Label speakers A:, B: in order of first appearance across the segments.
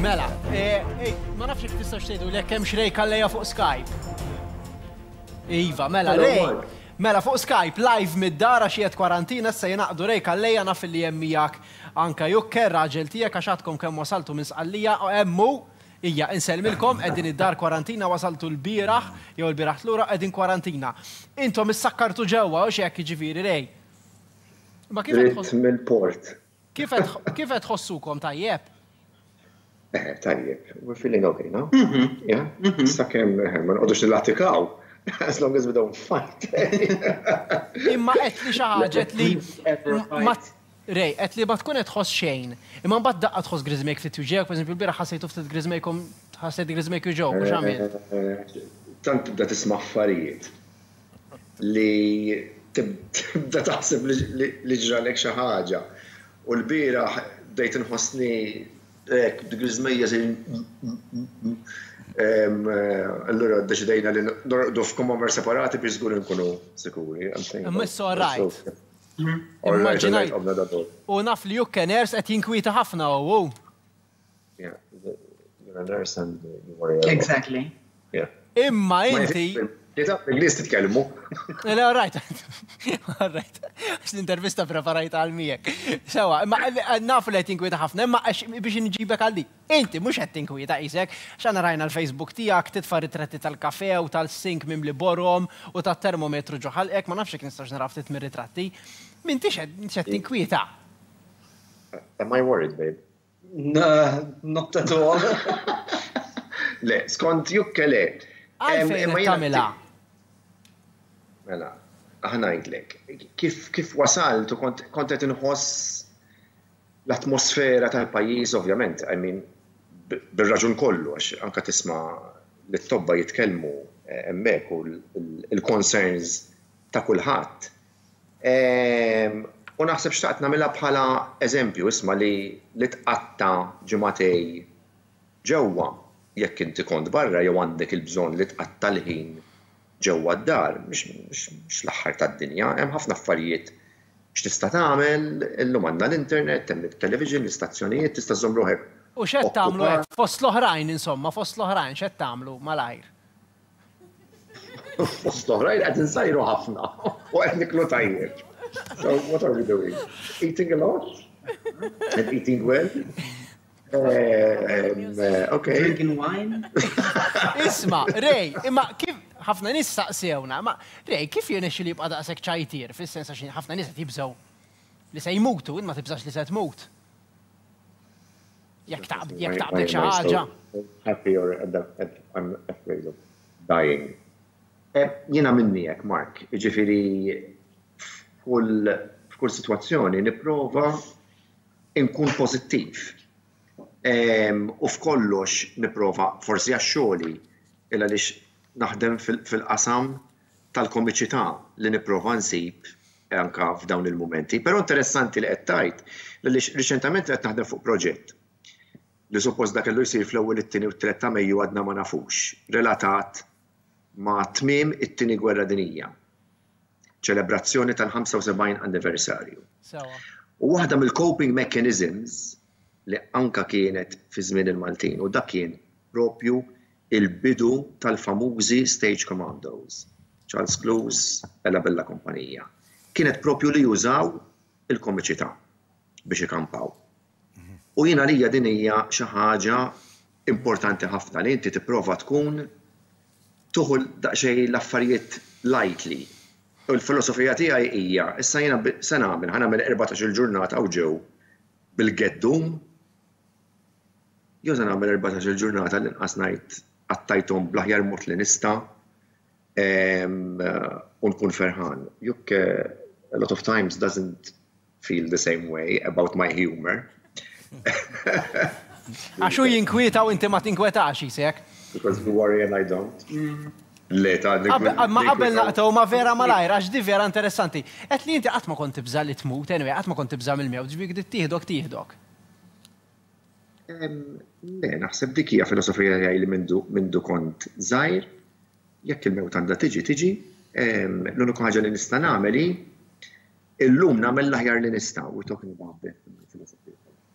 A: Mela, eh, eh, ma nafx jek tistax tgħidu li hemm xrej kalleja fuq Skype. Iva, mela, rej. Mela fuq Skype live mid-dara xiet kwarantina se jinaqdu rej kalleja naf li hemm miegħek anka jukker raġel tiegħek għax għadkom kemm wasaltu minn sqallija u hemmu Ija, inselmilkom, edin id-dar kwarantina, wasaltu l-biraħ, jew l-biraħ l-ura, edin kwarantina. Intom is-sakkartu ġewwa, u xiek ġiviri rej. Ma kien Mill-port. Kif qed tħossukom tajjeb? Eh,
B: tajjeb, we're feeling okay now. Mhm. Yeah? Mhm. Sakemm eh, ma nqogħdux nilatikaw. As long as we don't fight.
A: Imma qed li xi ħaġa li Rej, qed li ma tkun qed tħoss xejn. Imma mbagħad daqqa tħoss griżmek ftit juġek, pereżempju l-bira ħassejtu ftit griżmekom ħassejt griżmek juġew, mhux għamil. Eh, tant tibda
B: tisma' affarijiet. li tibda taħseb li ġralek xi ħaġa. U l-bieraħ bdejt inħossni hekk b'dik l-iżmejja Allura ddeċidejna li norqdu f'kumamar separati biex żgur inkunu sikuri. Imma it's
A: all right. Immaġinajt. U naf li Jukken Ers qed jinkwieta ħafna u.
B: Yeah, you're a nurse and you worry a lot. Exactly. Yeah. Imma inti.
A: Kita, l-Inglis
B: titkellmu. Le, all right.
A: All right. L-intervista preparajta għal miegħek. Sewa, imma naf li qed tinkwita ħafna, imma biex inġibek għal dik. Inti mhux qed tinkwita qisek, x'għana rajna l-Facebook tiegħek titfa' ritratti tal-kafe u tal-sink mimli borom u tat-termometru ġoħalqek, ma nafx jekk nistax nara ftit mir-ritratti. M'intix qed tinkwita.
B: Am I worried, babe?
C: Not at all.
B: Le, skont jukke le. Għalfejn
A: tamila? Mela,
B: aħnajdlek, kif wasalt u kont qed inħoss l-atmosfera tal-pajjiż ovvjament, I mean, bir-raġun kollu, għax anka tisma' lit-tobba jitkellmu hemmhekk u l-concerns ta' kulħadd. U naħseb xtaqt nagħmilha bħala eżempju, isma' li li tqatta' ġimagħtej ġewwa jekk inti kont barra jew għandek il-bżonn li tqatta' l-ħin ġewwa d-dar mhix l-aħħar tad-dinja, hemm ħafna affarijiet x'tista' tagħmel, illum għandna l-internet, hemm it-television, l-istazzjonijiet, tista' żżomm ruħek okkupat. U x'qed tagħmlu
A: hekk fost l-oħrajn insomma, fost l-oħrajn x'qed tagħmlu malajr?
B: Fost oħrajn qed insajru ħafna u qed niklu tajjeb. So what are we doing? Eating a lot? And eating well? Eh, eh, okay. Drinking wine?
C: Isma,
A: Ray, imma kif ħafna nis saqsewna, ma Ray, kif jenexi li jibqa daqsek ċajtir, fil-sens għax ħafna nis jibżaw li se jmutu, imma tibżax li se tmut. Jekk taqbel xi ħaġa. Happy or
B: I'm afraid of dying. Jiena minni hekk, Mark. Jiġifieri f'kull sitwazzjoni nipprova nkun pożittiv. U f'kollox nipprova, forsi għax xogħli, il għaliex naħdem fil-qasam tal-komiċità li nipprova nsib anke f'dawn il-mumenti. Però interessanti li qed tgħid għaliex riċentament qed naħdem fuq proġett li suppost da kellu jsir fl-ewwel it-tieni u t-tliet ta' Mejju għadna ma nafux, relatat ma' tmiem it-tieni gwerra dinija. Ċelebrazzjoni tal-75 anniversarju. Sewwa. U waħda mill-coping mechanisms li anke kienet fi żmien il-Maltin u dak kien proprju l-bidu tal-famużi Stage Commandos, Charles Clowes e la Bella Compagnia. Kienet proprju li jużaw il-komiċità biex ikampaw. U jien għalija din hija xi ħaġa importanti ħafna li inti tipprova tkun tuħu daqsxejn l-affarijiet lightly. U l-filosofija tiegħi hija, issa jiena se nagħmel, ħa nagħmel erbatax-il ġurnata u ġew bil-geddum, jew se nagħmel erbatax-il ġurnata l-inqas ngħid qattajthom bl-aħjar mod li nista' u nkun ferħan. Jukk a lot of times doesn't feel the same way about my humour.
A: Għax hu jinkwieta u inti ma tinkwetax, jisek. Because you worry and
B: I don't. Le, ta' dik. Ma qabel
A: naqtgħu ma' Vera malajr, għax di vera interessanti. Qed li inti qatt ma kont tibża' li tmut, anyway, qatt ma kont tibża' mill-mewt, ġbik di tieħdok tieħdok.
B: Le, naħseb dik hija filosofija tiegħi li mindu kont żgħir, jekk il-mewt għandha tiġi, tiġi. L-uniku ħaġa li nista' nagħmel hi illum nagħmel l-aħjar li nista' u talking about death filosofija.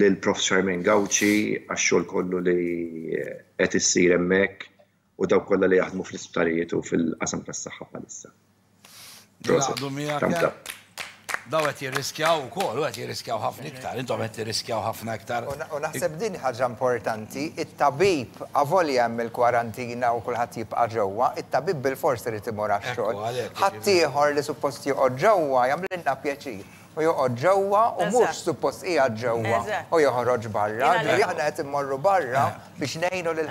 B: lil Prof Charmaine Gauci għax-xogħol kollu li qed issir hemmhekk u dawk kollha li jaħdmu fl-isptarijiet u fil-qasam tas-saħħa bħalissa. Proset.
D: Daw qed jirriskjaw ukoll, u qed jirriskjaw ħafna iktar, intom qed tirriskjaw ħafna iktar. U naħseb din ħaġa
E: importanti, it-tabib avolja hemm il-kwarantina u kulħadd jibqa' ġewwa, it-tabib bilfors irid imur għax-xogħol. Ħaddieħor li suppost joqgħod ġewwa jagħmlilna pjaċir. u joqgħod ġewwa u mhux suppost qiegħed ġewwa u joħroġ barra, ġifieri aħna qed immorru barra biex ngħinu lil.